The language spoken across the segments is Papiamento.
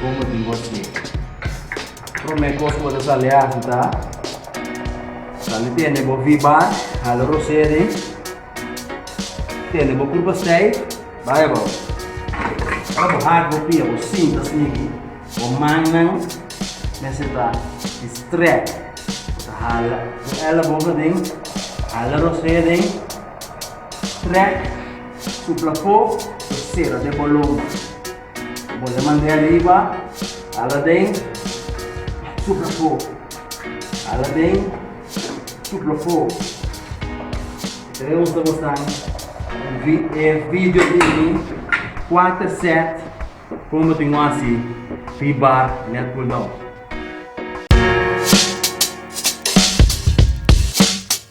Como tin bo aquí? Prome cos bo ta sali hasi ta sali tene bo viba, hala rosé den, tene bo pur bastey, bay bo. Ora bo hak bo pia bo sinta smigi bo mannan mester ta strek, bo ta hala bo ellebogen den, hala rosé den, strek, supla fo, lo sera den bo lomba. Bole mande ariba, ala den, supla fo, ala den, supla fo. Reunsa bosan vi e video di mi quarter set como bo tin cu haci pi bar net cool down.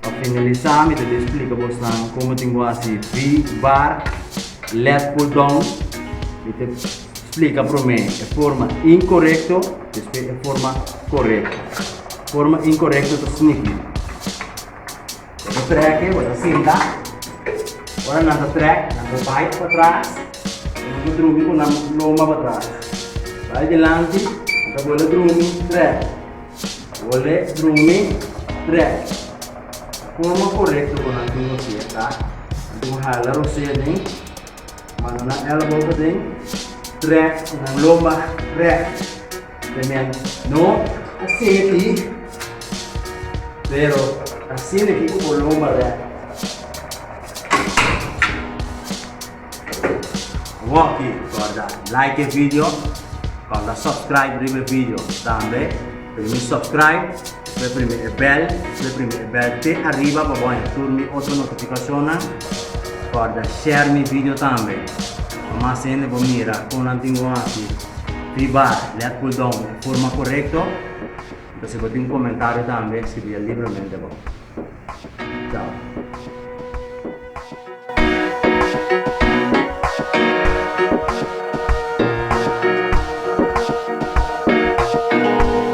Pa finalisa mi ta tin splica bos nan como tin cu haci V-bar led pull down. Mi ta splica prome e forma incorecto despues e forma corecto. Forma incorecto ta snipping. Bo ta trèk'e, bo ta sinta. Ora nan ta trèk, nan ta bai pa tras i nan ta drumi ku nan lomba pa tras. Bai dilanti, nan ta bole drumi, trèk, bole drumi, trèk. E forma korekto ku nan tin ku hasi e ta, nan tin ku hala rosé aden, manda nan elbow aden, trèk i nan lomba rèk. Tremendo. No ta simi ti, pero ta simi ki cu Olomba rap. Wokey corda like e video, corda subscribe riba e video. Tambe primi subscribe, despues primi e bel, despues primi e bel te ariba pa bo haña tur mi otro notificacionnan. Corda share mi video tambe, pa mas hende por mira con nan tin bon aki. Riba lea cool down di forma corecto. Entonces si bo tin un comentario tambe scribia libremente abao. Chao.